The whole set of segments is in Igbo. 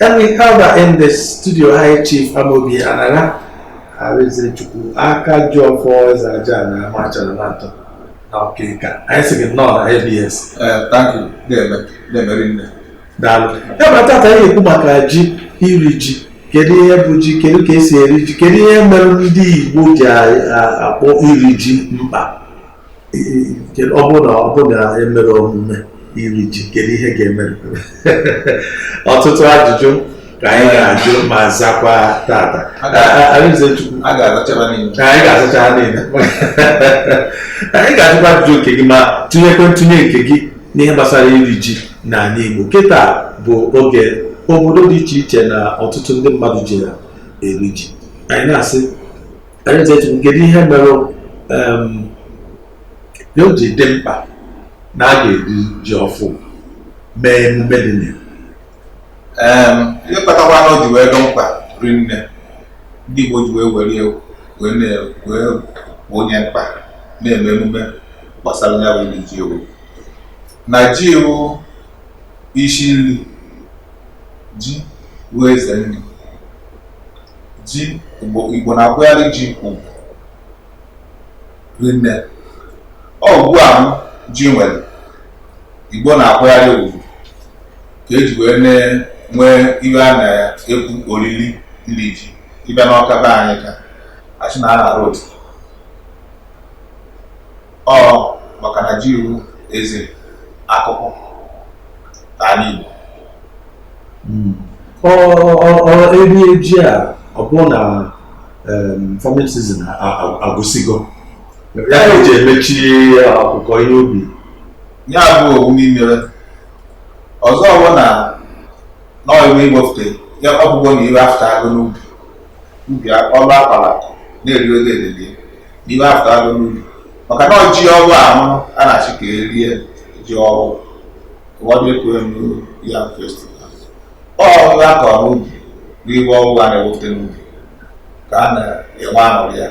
And we have in the studio, High Chief Amobi Anagha, Arinzechukwu, aka ji ọfọ eze aja ana Amachara na atọ na Ọka. Anyị sị gị nnọọ na ABS. Eh, thank you. Na-eme, na-eme rinne. Daalụ. Ya bụ tata anyị ekwu maka ji, iri ji. Kedu ihe bụ ji, kedu ka esi eri ji, kedu ihe mere ndị Igbo ji a- a- akpọ iri ji mkpa? ọ bụrụ na ọ bụrụ na emerọ omume iri ji kedu ihe ga-eme ọtụtụ ajụjụ ka anyị ga-ajụ ma zakwa tata anyị ga-azacha ha niile anyị ga-azakwa ajụjụ nke gị ma tụnyekwe ntụnye nke gị n'ihe gbasara iri ji n'ala Igbo kịta bụ oge obodo dị iche iche na ọtụtụ ndị mmadụ ji ya eri ji anyị na-asị anyị chetụ kedu ihe mere em, na o ji dị mkpa na a ga-eri ji ọfụ mee emume dị na ya Em, ihe kpatakwa na o ji wee dị mkpa rinne ndị Igbo ji wee were ya wee na- wee bụ onye mkpa na-eme emume gbasara ya bụ iri ji wụ na ji wụ isi nri ji bụ eze nri ji igbo igbo na-akwụgharị ji ugwu rinne ọ ugwu ahụ ji nwere igbo na-akwụgharị ugwu ka eji wee nwee ihe a na-ekwu oriri iri ji ị bịa n'Ọka be anyị ka achị na a na-arọ otu ọ maka na ji wụ eze akụkụ n'ala Igbo hmm. iri ji a ọ bụrụ na farming season agwụsịgo ya eji emechi ọkụkọ ihe ubi ya bụ ọ wụ n'imere ọzọ ọbụ na n'ọiwe iwefute ya ọbụgo na ihe afụtago n'ubi ubi ọlụ akpara na-eri oge edede n'ihe afụtago n'ubi maka na ji ọhụrụ ahụ a na-achị ka erie ji ọhụrụ ụfọdụ ekwe new yam festival ọ wụ ihe akọrọ n'ubi n'ihe ọhụrụ a na-ewepụta n'ubi ka a na-enwe aṅụrị ya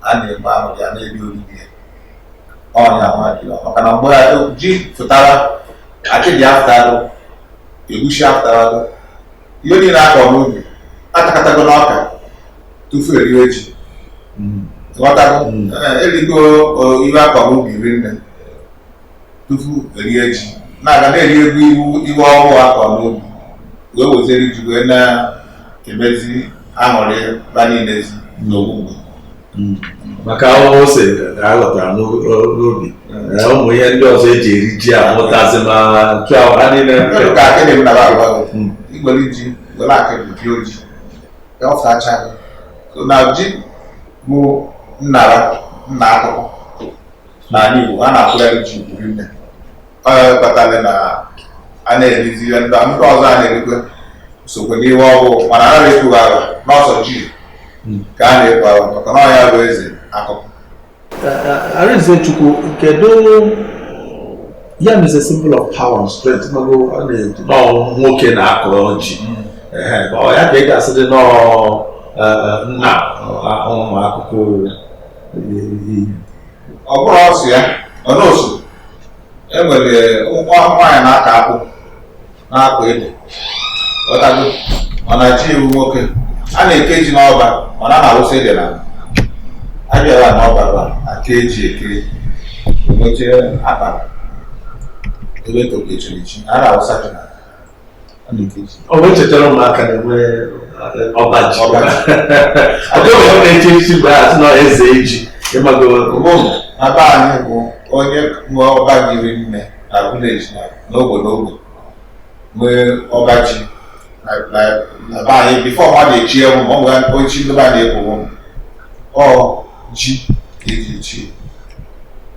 a na-enwe aṅụrị ya na-eri oriri ya ọ nya nwa dị maka na mgbe ji pụtara akịdị afụtarụ egusi afụtarụ ihe niile akọrọ n'ubi atakọtago n'ọka tufu eriwe ji ghọtara erigo iwe a kọ n'ubi rinne tufu erie ji na-aga na-erigo iwe ọhụụ a kọ n'ubi wee wezere ji wee na-emezi aṅụrị ba niile ezi n'ogbugbo maka ahụhụ ose ka a ghọtara n'u- n'ubi Ee, ụmụ ihe ndị ọzọ eji eri ji a mụtazi ma nchụahụ ha niile Kedu ka akịdị m nara agwa gị Mm. igbere ji were akịdị pịa oji ya ọ fachaghị so na ji bụ nnara nna akụkụ n'ala Igbo a na-akụgharị ji buru nne ọ ya kpatara na a na-erizi ihe ndị ndị ọzọ a na-erikwe sokwe n'ihe ọhụụ mana a na-ekwughị aha na ọ sọ ji ka a na-ekwu aha maka na ọ ya bụ eze akụkụ Arinze Chukwu kedu yam is a symbol of power and strength mago a na-eji na ọ nwoke na-akọrọ ji ọ ya ka ị ga-asị dị na ọ nna ụmụ akụkụ ọ bụrụ ọsụ ya ọnọsụ enwere ụmụ nwaanyị na-aka akụ na-akọ ede ọtago mana ji wụ nwoke a na-eke ji n'ọba mana a na-awụsa ede na abịara n'ọba ba aka eji eke emeche akpara ebe tokechiri ji a na-awụsa ji na ọ bụ echetara ụmụaka na-enwe ọba ji ọ dịghị onye na-echi echichi mgbe a sị na eze ji ịmago mbụ na be anyị bụ onye nwe ọba ji rinne na village na n'ogbe n'ogbe nwee ọba ji na na- na be anyị before ọ na-echi ewu ma ọ nwere ochi ndị be anyị na-ekwu ọ ji ka eji echi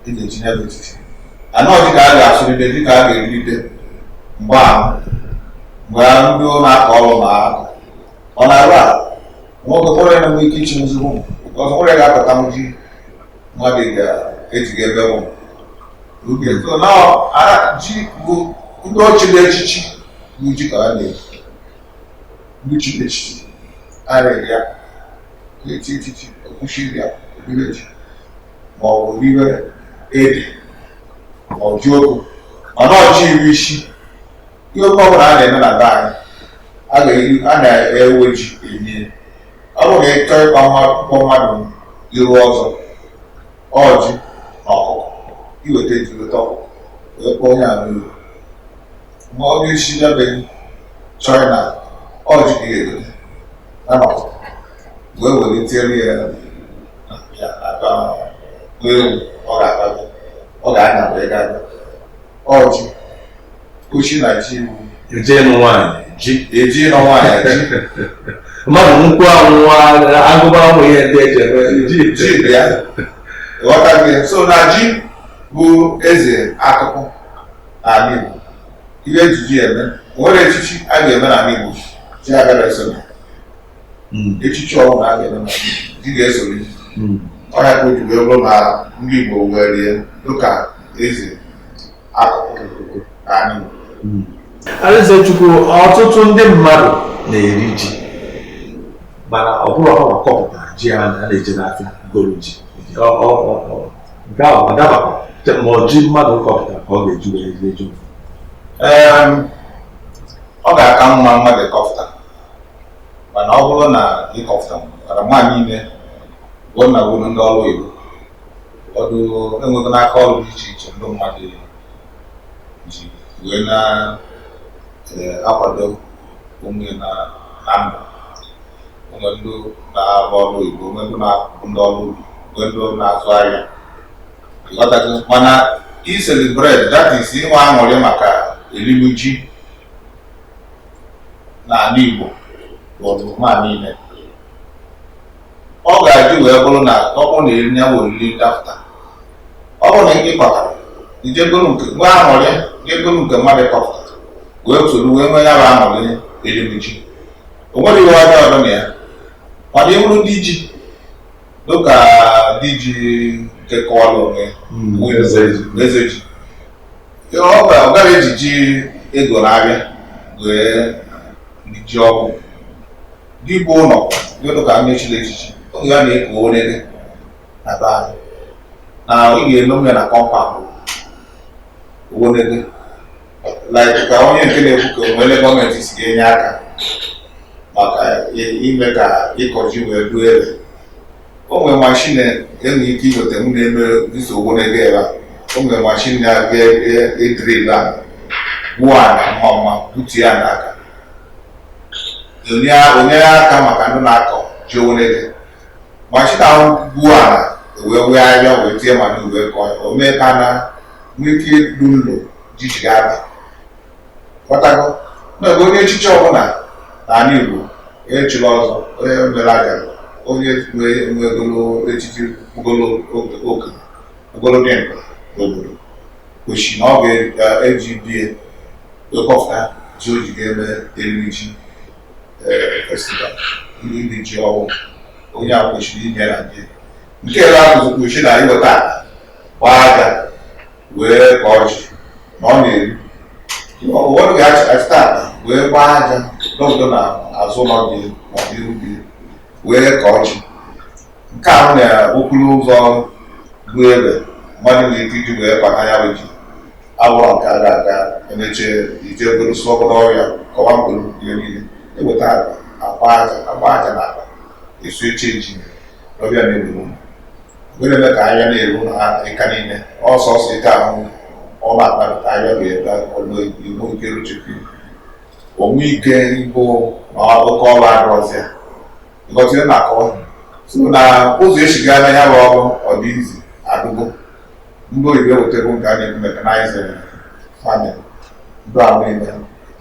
e ga-eji ya bụ echichi anọ dịka a ga-asụrịde dịka a ga-erite mgbe ahụ mgbe ahụ ndị na-akọ ọrụ na aka ọ na-arụ a nwoke kpọrọ ya nwee ike ichi nze ma ọ bụ ọzọ nwere ga-apụta nji mmadụ ga-ejiga ebe bụ oge so na ara ji bụ ndị ọ chiri echichi bụ ji ka a na-eji ndị chiri echichi arịrị ya na-eti echichi ekwuchiri ya obere ji ma ọ bụ obere ede ma ọ jioko mana ọ ji iri isi ihe oke ọbụla a na-eme na be anyị a ga-eri a na-ewe ji enye ọ bụrụ na ịchọ ịkpọ nwa ịkpọ mmadụ iru ọzọ ọ ji na ọkụkọ i weta ji weta ọkụkọ wee kpọọ onye ahụ iru mgbe ọ ga-esi n'ebe chọrọ na ọ ji ka ga-egote na ọkụkọ wee were tiere ya na ya ata n'elu ọ ga-ata ọ ga-anya wee gaa ọ ji kuchi na ji iwu eje ịnụ nwaanyị ji eji ịnụ nwaanyị ji mmadụ nkwụ anwụwa agụba ụmụ ihe ndị eji eme ji ji bụ ya ghọtago so na ji bụ eze akụkụ n'ala Igbo ihe eji ji eme o nwere echichi a ga-eme n'ala Igbo ji agara eso na Mm, echichi ọbụla a ga-eme n'ala Igbo ji ga-esoro ji mm, ọ ya ka o ji wee bụrụ na ndị Igbo were ya dịka eze akụkụ n'ala Igbo Arinzechukwu ọtụtụ ndị mmadụ na-eri ji mana ọ bụrọ ha kọpụtara ji ha na-eje n'afịa goro ji nke ahụ ọ dabakwa ma ọ ji mmadụ kọpụtara ka ọ ga-eji wee rie ji ọ ga-aka mma mmadụ ịkọpụta mana ọ bụrụ na ịkọpụta mana nwaanyị ime bụ na bụrụ ndị ọrụ oyibo ọdụ enwego n'aka ọrụ dị iche iche ndị mmadụ ji wee na-akwado onwe ha na ndụ o nwe ndị na-arụ ọrụ oyibo o nwe ndị na-abụ ndị ọrụ ubi o nwe ndị na-azụ ahịa ịghọtago mana ịcelebrate that is inwe aṅụrị maka elimji n'ala Igbo bụ ọdịmma niile ọ ka o ji wee bụrụ na ọ bụrụ na eri ya bụ oriri dapụta ọ bụrụ na ị kọtarọ i jee goro nke nwe aṅụrị jee goro nke mmadụ kọpụtara wee soro wee nwee ya bụ aṅụrị elimji o nwerọ ihe ọjọọ dị na ya mana ị bụrụ di ji dịka di ji nke kọọrọ onwe ya hmm, eze ji ọ garọ eji ji e goro n'afịa wee rie ji ọfụụ dibiụlọ dịka ndị chiri echichi oge ya na-eko orere na be anyị na ọ ga-eme m ya na compound owonede like ka onye nke na-ekwu ka o nwere etu gọọmenti si ga-enye aka maka ime ka ịkọ ji wee ruo ebe o nwere mashin e nwere ike iweta m na-eme dịso owonede ebe a o nwere mashin na-abịa edrill a gbuo ala mma mma butu ya n'aka enyere aka maka ndị na-akọ ji o nwere ụdị mashin a gbuo ala wee wee ahịa wee tie mmadụ wee kọọ o mee ka na nwee ike ịdụ nlo ji ji ga-aba ghọtago n'oge onye echichi ọbụla n'ala Igbo echila ọzọ onye mere agara onye nwegolo echichi ogolo dị mkpa n'obodo kwesịrị na ọ ga-eji e be ya wee kọpụta ji o ji ga-eme iri ji e, festival ndị ndị ji ọhụụ onye ahụ kwesịrị inwe na be ya nke ebe ahụ kwesịrị na iweta gbaa aja wee kọọ ji na ọ na-eru ụfọdụ ga-achịta akpa wee gbaa aja n'obodo na azụ ụnọ gị n'ụdị ubi wee kọọ ji nke a na okporo ụzọ bụ ebe mmadụ nwere ike iji wee kpata ya bụ ji abụọ nke a ga-aga emeche ije obere sụọ obere ọhịa kọwa mkpụrụ ihe niile eweta akpa aja agba aja na akpa esu eche ji ọ bịa na-egbu ụlọ were eme ka ahịhịa na-eru na ịka niile ọsọ ọsọ ike ahụ ọ na-akpata ahịhịa ga-ebe ọlụ igbo nke ruchukwu onwe ike igbo na oke ọrụ adịrọzị ya Ngọzie na-akọ so na ụzọ e si aga na ya bụ ọrụ ọ dị easy adịgo ndị oyibo ewetego nke a na-ekwu mechanized farming ndị ahụ niile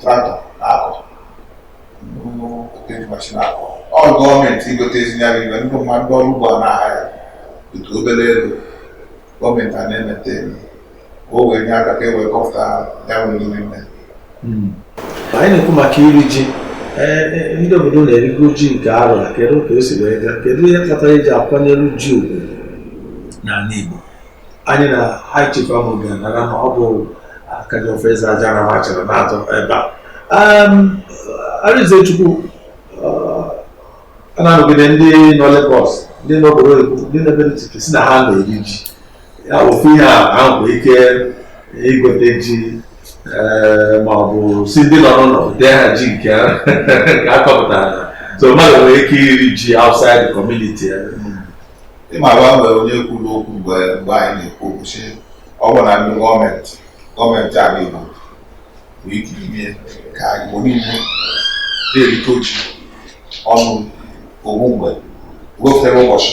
traktọ na-akọ e ji mashin akọ ọ gọọmenti igote ezinyara ibe ndị mmadụ ndị ọrụ ugbo a na-ahaya otu obere ego gọọmenti a na-emete ka o wee nye aka ka e wee kọpụta ya bụ n'ime mbe hmm. anyị na-ekwu maka iri ji e, e, ndị obodo na-erigo ji nke arọ a kedu ka o si wee gaa kedu ihe kpatara e ji akwanyere ji ugwu n'ala Igbo anyị na high chief ahụ ga na ọ bụ Akajiọfọ Eze Ajana machara na-atọ ebe a Arinzechukwu uh, a na-anụgide ndị nọ Lagos ndị nọ obodo oyibo ndị nọ ebe sị na ha na-eri ji ya ofu ihe ha nwere ike igote ji ee, ma ọ bụ sị ndị nọ n'ụlọ dee ha ji nke ha nke a kọpụtara na so mmadụ nwere ike iri ji outside the community eh. ị makwa e nwere onye kwuru okwu mgbe mgbe anyị na-ekwu okwu sị ọ bụ na ndị gọọmenti gọọmenti ala Igbo nwere ike ime ka Igbo niile na-erikọ ji ọnụ otu mgbe wepụtara ụbọchị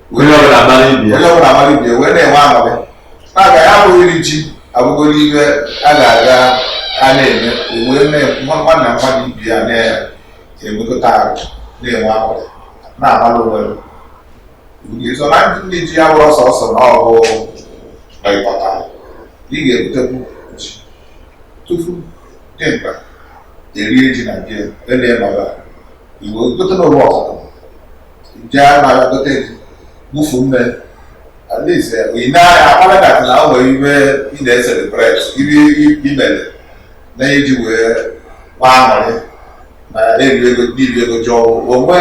onye ọbụla amara ibe ya onye ọbụla amara ibe ya wee na-enwe aṅụrị maka ya bụ iri ji abụgoro ihe a ga-aga a na-eme wee na-nwa nwanna mmadụ ibe ya na-emekọta arụ na-enwe aṅụrị na-amara onwe so na iri ji abụrọ sọsọ na ọ bụ ị kọta ị ga-ebutekwu ji tupu dị mkpa erie ji na be ele nọrọ Igbo gote na ụwa ọkụkọ ndị a na-aga gote gị gbufu mme at least ị na-anya akpara that na o nwere ife ị na-eselebrate ife i mere na iji wee gbaa aṅụrị na na-eri ego n'ibi ego jụọ onwe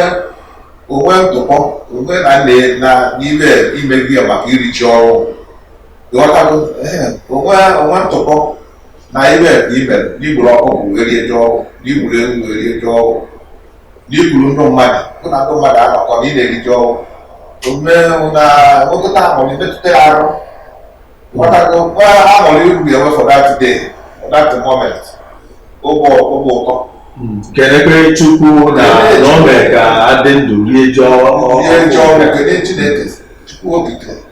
onwe ntụpọ onwe na nne na n'ime ime gị maka iri ji ọfụụ ị ghọtago onwe onwe ntụpọ na ife ka i mere na i gburu ọkụkọ wee rie ji ọfụụ na i gburu ewu wee rie ji ọfụụ na i kuru ndị mmadụ gị na ndị mmadụ anọkọ na ị na-eri ji ọfụụ omume na nwekọta aṅụrị emetụta ya arụ ị ghọtago aṅụrị ọ ga-enwe for that day for that moment obi ụtọ kelekwe chukwu na na o mere ka a dị ndụ rie ji ọfụụ rie ji ọfụụ kelee chineke chukwu okike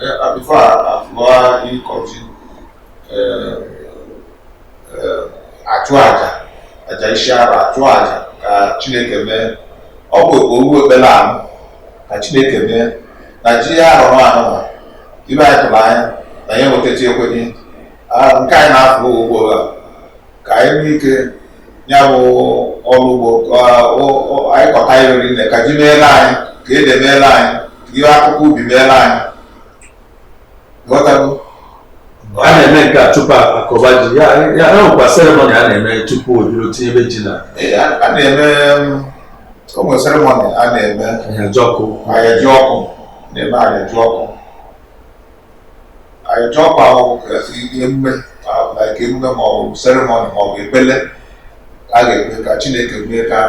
Uh, before a fụọ ịkọ ji, a chụọ aja aja isi arọ a chụọ aja ka chineke mee ọ bụ owu ekpere ahụ ka chineke mee na ji arọ nwa a ife anyị tụrụ anya na ya nwetachi ekwenye Ah, nke anyị na-afụ ugbo a ka anyị nwee ike ya bụ ọrụ ugbo anyị kọta ya o rie nne ka ji meelụ anyị ka ede meelụ anyị ka ihe akụkụ ubi meelụ anyị ghọtago a na-eme nke a tupu a kọba ji ya ya nwekwa seremoni a na-eme tupu o jiri tinye ebe ji na a na-eme o nwere seremoni a na-eme Ahịajiọkụ Ahịajiọkụ na-eme Ahịajiọkụ Ahịajiọkụ ahụ emume like emume ma ọ bụ seremoni ma ọ bụ ekpele a ga-ekpe ka chineke mee ka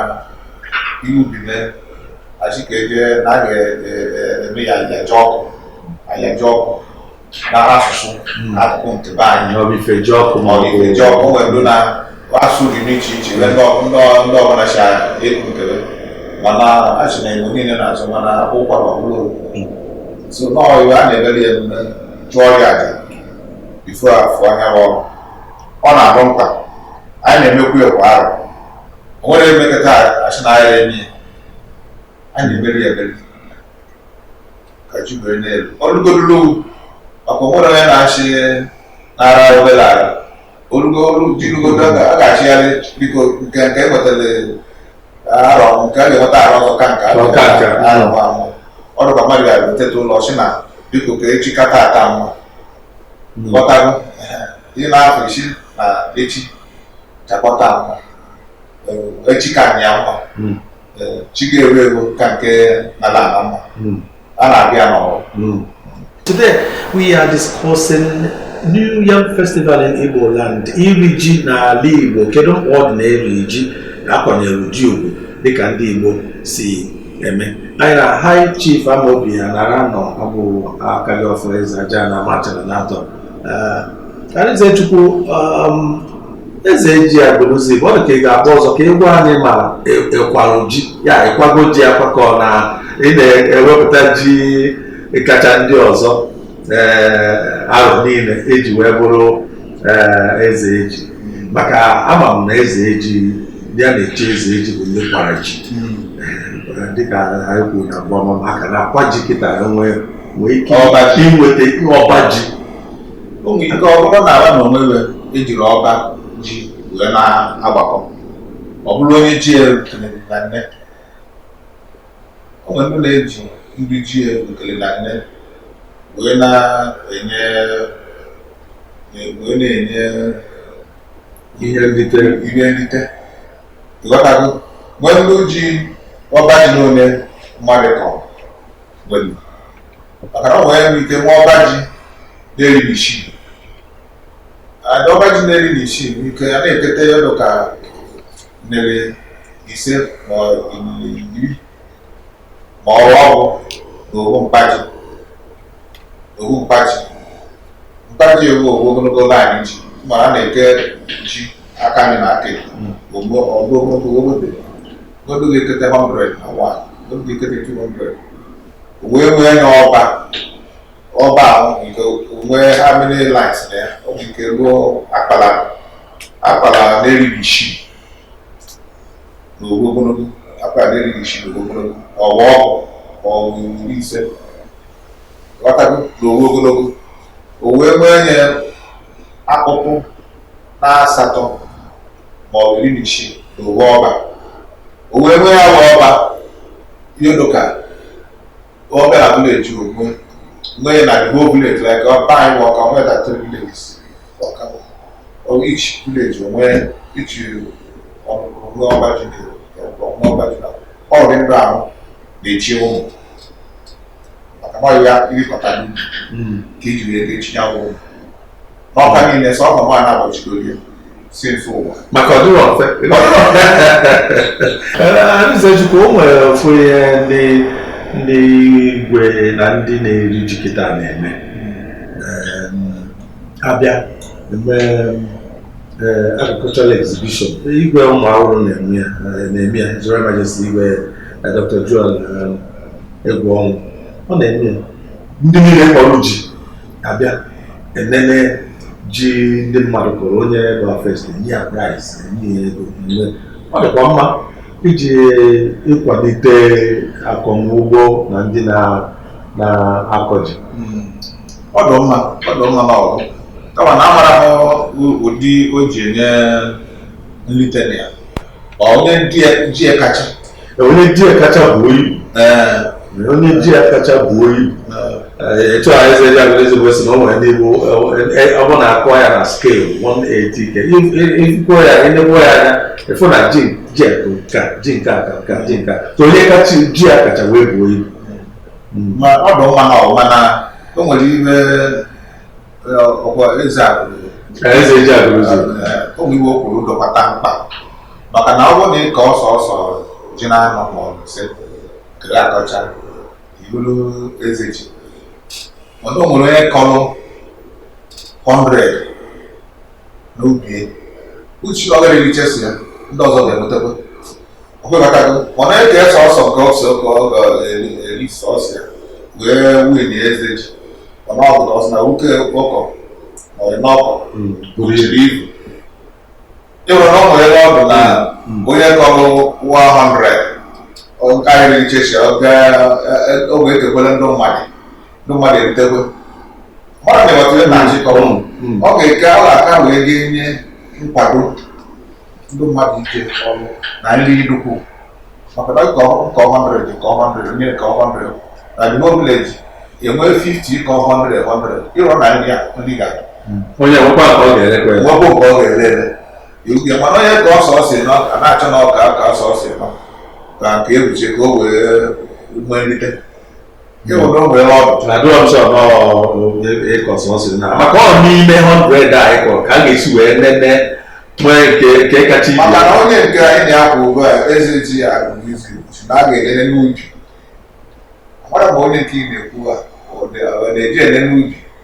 ihe ubi mee a sị ka e je na a ga-eme ya Ahịajiọkụ Ahịajiọkụ na asụsụ na akụkụ nke be anyị na ọ bụ Ifejiọkụ ma ọ bụ Ifejiọkụ nwere ndị na asụ dị n'iche iche ebe ndị ọbụla si ekwu nkele mana a sị na igbo niile na-asụ mana kwa arọ ọbụla so nọọ iwe a na-emere ya emume chụọ ya aja bifo a fụọ ya ọrụ ọ na-abụ mkpa anyị na-emekwu ya kwa arọ o nwerọ e mekata a sị na a ya-eme ya a na-emeri ya emeri ka ji were n'elu ọlụgodolowu maka onwere onye na-achị n'ara obere ala o rugodu ji rugodu a ga-asịrịrị biko nke nke e nwetara arọ nke a ga-enweta arọ ọzọ ka nke ọ ka nke arọ nwa mma ọ dị ka mmadụ ga-eteta ụla sị na biko ka echi ka taa taa mma ghọtago ị na-afụ a sị na echi ga-aka taa mma echi ka nya mma chi ga-ewu ewu ka nke na-ala ala mma hmm. a na-abịa n'ọrụ hmm. Today we are discussing New Yam Festival in Igbo land iri ji n'ala Igbo kedu mkpa ọ dị na-eri ji na-akwanyere ji ugwu dịka ndị Igbo si eme anyị na High Chief Amobi Anara nọ ọ bụ Akajiọfọ eze aja na Amachara n'atọ Arịnzechukwu um, eze ji Agụlụzigbo ọ dị ka ị ga-agba ọzọ ka ị gwa anyị ma ị kwalụ e, e ji ya ị kwago ji akwakọ na ị na-ewepụta ji kacha ndị ọzọ eh, arọ niile i ji wee bụrụ eh, eze ji maka ama m na eze ji a na-echi eze ji bụ ndị kwara ji hmm. eh, dịka anyị kwuru na mbụ ọ bụ maka na a kwa ji kịta enwe nwee ike ọba ji inweta ọba ji o nwere ike ọ bụrụ na-aba na onwe ya ejiri ọba ji wee na-agbakọ ọ bụrụ onye ji ya ekele na nne o nwere ndị na-eji ndị ji ya ekele na nne wee na-enye wee na-enye ihe nrite ihe nrite ị ghọtago nwee ndị ji ọba ji n'one mmadụ kọrọ maka na ọ nwere nwere ike na ọba ji na-eri nnụ isii ada ọba ji na-eri nnụ isii nwere ike a na-ekete ya ọ dị ka na-eri ise na iri ma ọ bụ ọgụ na owu mkpa ji owu mkpa ji mkpa ji a bụ owu ogologo laịnị ji ma a na-eke ji aka anyị na-eke ogbo ogologo ogologo obodo ga-ekete 100 o nwee obodo ga-ekete 200 wee nwee ya ọba ọba ahụ nke nwee how many lines na ya ọ bụ nke ruo akpala akpala na-eri ji isii na ogbo ogologo akpala na-eri ji isii na ogbo ogologo ọ bụ ọgụ ma ọ bụ iri ise ghọtago na ogbo ogologo o wee nwee nye akụkụ na asatọ ma ọ bụ iri na isii na owu ọba o wee nwee ya wee ọba ihe dị ka ọ bụ na village ogbe nwee na the whole village like be anyị Ọka nwee thirty-three villages ọka bụ ọ each village o nwee each ọmụmụ ruo ọba ji na ọmụmụ ọba ji na ọ bụ ndị ahụ na-echi ụmụ maka na ọ ya irikọta n'ubi ka iji wee ga-echi ya ụmụ ọka niile sọ ọka nwaanyị abọchigoro ya si mfe ụwa maka ọ dịrọ mfe Arịzechukwu o nwere ofu ihe ndị ndị igwe na ndị na-eri ji kịta na-eme Em, abịa eme eh, agricultural exhibition igwe Ụmụawụlụ na-eme ya eh, na-eme ya His Royal Majesty igwe eh, Dr. Joel em, Egwuọnwụ ọ na-eme ya ndị niile kọrọ ji abịa enene ji ndị mmadụ kọrọ onye bụ first enye ya prize enye ya ego enye ọ dịkwa mma iji ịkwalite akọmugbo na ndị na- na-akọ ji ọ dị mma ọ dị mma na ọgụ kama na amarọ m ụ- ụdị o ji enye nlite na ya ọ onye ji ya- ji ya kacha onye ji ya kacha buo ibu onye ji ya kacha buo ibu etu a eze ji Agụlụzigbo si na o nwere ndị bụ ọ bụ na atụọ ya na scale 180 ke ikwuo ya enegbuo ya anya a fụ na ji ji a bụ nka ji nke a ka nka ji nke a ka onye kacha ji ya kacha wee buo ibu ma ọ dị mma mana o nwere ihe ọkwa eze eze ji Agụlụzigbo o nwere ihe o kwuru dịkwata mkpa maka na ọ bụrụ na ị kọọ sọsọ ji na anọ ma ọ bụ ise kere akọcha ị bụrụ eze ji mana o nwere onye kọrọ 100 n'ubi uchi ọ gara ericha si ya ndị ọzọ ga-enwetakwa ọkwebatago ọ na-akọ sọsọ nke ọsọ ka ọ ga-eri sọsọ ya wee win eze ji mana ọ bụla ọsị na nwoke ọkọ ọrị n'ọkọ bụriri ibu ịhụrụ na o nwere ọ bụ na onye kọrọ 100 ọ karịrị ichechi ọ ga-egwe etekwele ndị mmadụ ndị mmadụ eritekwe mmadụ na-eweta ihe na-achị kọrọ ọ ga-eke ala aka wee ga-enye nkwado ndị mmadụ ike ọrụ na nri nnukwu maka na nke a kọọ 100 nke a kọọ 100 onye nke a kọọ 100 na the whole village enwee 50 kọọ 100 100 ịrọ na ndị a ndị ga onye nwekwa ka ọ ga-elekwa ya nwekwa nke ọ ga-ele ele iwuke mana onye kọ sọsọ isi anọ a na-achọ na ọ kọ sọsọ isi anọ ka nke ebuche ka o wee nwee nrite ịhụrụ mgbe ọ bụ na ọ dịrọ sọ n'ịkọ sọsọ isi anọ maka ọ n'ime 100 a ị kọ ka a ga-esi wee nene nwee nke nke kacha ibe maka na onye nke anyị na-ekwu ugbu a eze ji Agụlụzigbo si na a ga-enene n'ubi amarọ m ma onye nke ị na-ekwu ha ọ dị- ọ na-eje enene n'ubi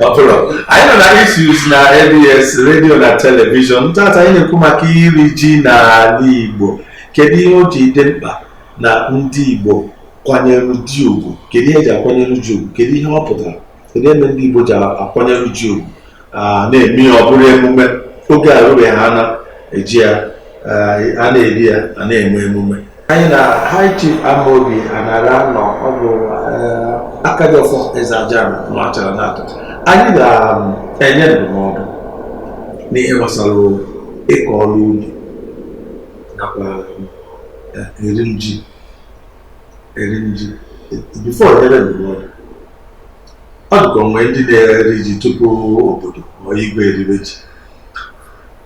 ọ bụrụ anyị nọ na issues na abs redio na telivishọn tata anyị na-ekwu maka iri ji n'ala igbo kedu ihe o ji dị mkpa na ndị igbo kwanyere ji ugwu kedu ihe eji akwanyere ji ugwu kedu ihe ọ pụtara kedu ihe mere ndị igbo ji akwanyere ji ugwu na-eme ya ọ bụrụ emume oge arụbeghị ha na-eji ya a na-eri ya a na-eme emume anyị na High Chief Amobi Anara nọ ọ bụ eh, Akajiọfọ Eze Ajana nwachara n'atọ anyị ga-enye um, ndụmọdụ n'ihe gbasara ịkọ ọrụ ubi nakwa eh, iri ji iri ji bifo nyere ndụmọdụ ọ dịka o nwere ndị na-eri ji tupu obodo ma igwe eribe ji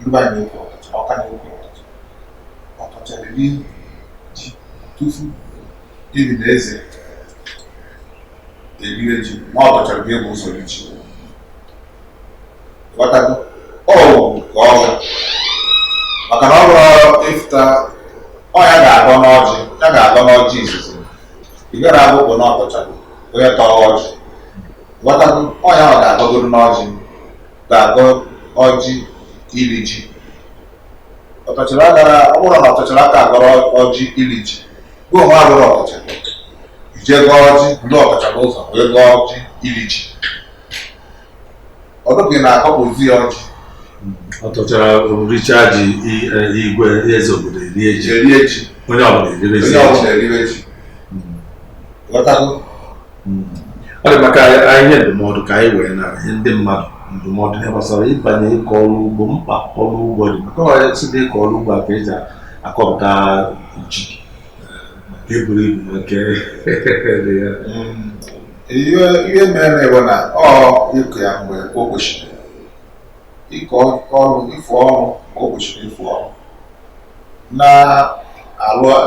ndị be anyị na-ekwu ọtọcha ọka na-ekwu ọtọcha ọtọcha riri ji tufu igwe na eze eribe ji ma ọtọchara ga-ebu ụzọ iri ji ghọtago ọ wụ ka ọ bụ maka na ọ bụrụ ị fụta ọ ya ga-agọ n'ọjị ya ga-agọ n'ọjị izizi ị gara abụ bụ n'ọtọchara onye tọọ ọjị ghọtago ọ ya ọ ga-agọgoro n'ọjị ga-agọ ọjị iri ji ọtọchara gara ọ bụrụ na ọtọchara aka agọrọ ọjị iri ji gụọ nwa agụrụ ọtọchara ije gọọ ọjị ndị ọtọchara ụzọ wee gọọ ọjị iri ji ọ dịghị na akọpụzi ya ọjị ọtọchara richa ji i- e, igwe eze obodo erie ji erie ji onye ọbụla eribezi onye ji ọbụla eriwe ji ghọtago hmm. ọ dị mma ka anyị nye ndụmọdụ ka anyị wee nye ndị mmadụ ndụmọdụ ihe gbasara ịbanye ịkọ ọrụ ugbo mkpa ọrụ ugbo dị maka ọ site ịkọ ọrụ ugbo a ka eji akọpụta ji nke buru ibu nke hmm. ihe mere bụ na ịkọ ya mgbe o kwesịrị ịkọ ọrụ ịfụ ọrụ mgbe o kwesịrị ịfụ ọrụ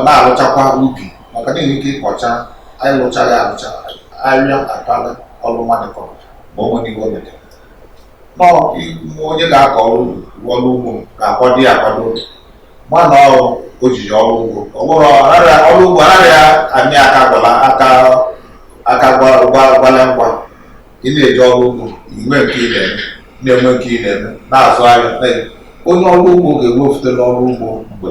na-alụchakwa ubi maka na enwere ike ịkọcha anyị lụchaghị alụcha arịa akpala ọrụ mmadụ kọrọ ma o nwere ihe o metere nọọ onye ga-akọ ọrụ ọrụ ugbo ga-akwado ya akwado mana ọrụ ojiji ọrụ ugbo ọ bụrụ ọrụ ugbo anaghị amị aka gwala aka aka gwala ngwa ị na-eji ọrụ ugbo i nwee nke ị na-eme na-enwe nke ị na-eme na-azụ ahịa onye ọrụ ugbo ga-ewefute n'ọrụ ugbo mgbe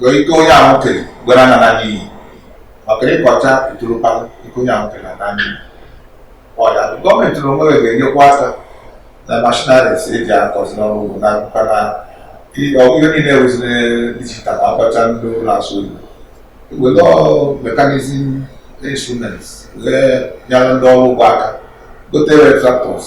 ka ike onye ahụ kere ghara ịna n'iyi maka ịkọcha ntụrụpa ike onye ahụ kere na-ana n'iyi ọ ya gọọmenti na onwe ga-enyekwa aka na machineries e ji akọzi n'ọrụ ugbo na akụkọ na ihe niile e weziri digital akọcha ndị na-asụ oyibo were mechanism instruments wee nyere ndị ọrụ ugbo aka gotere tractors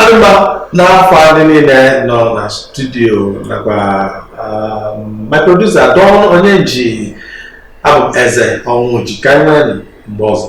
Ọ dị mma n'afa ndị niile nọ na studio nakwa um, my producer Don Onyeji abụ m Eze Ọnwụji ka anyị nwere mgbe ọzọ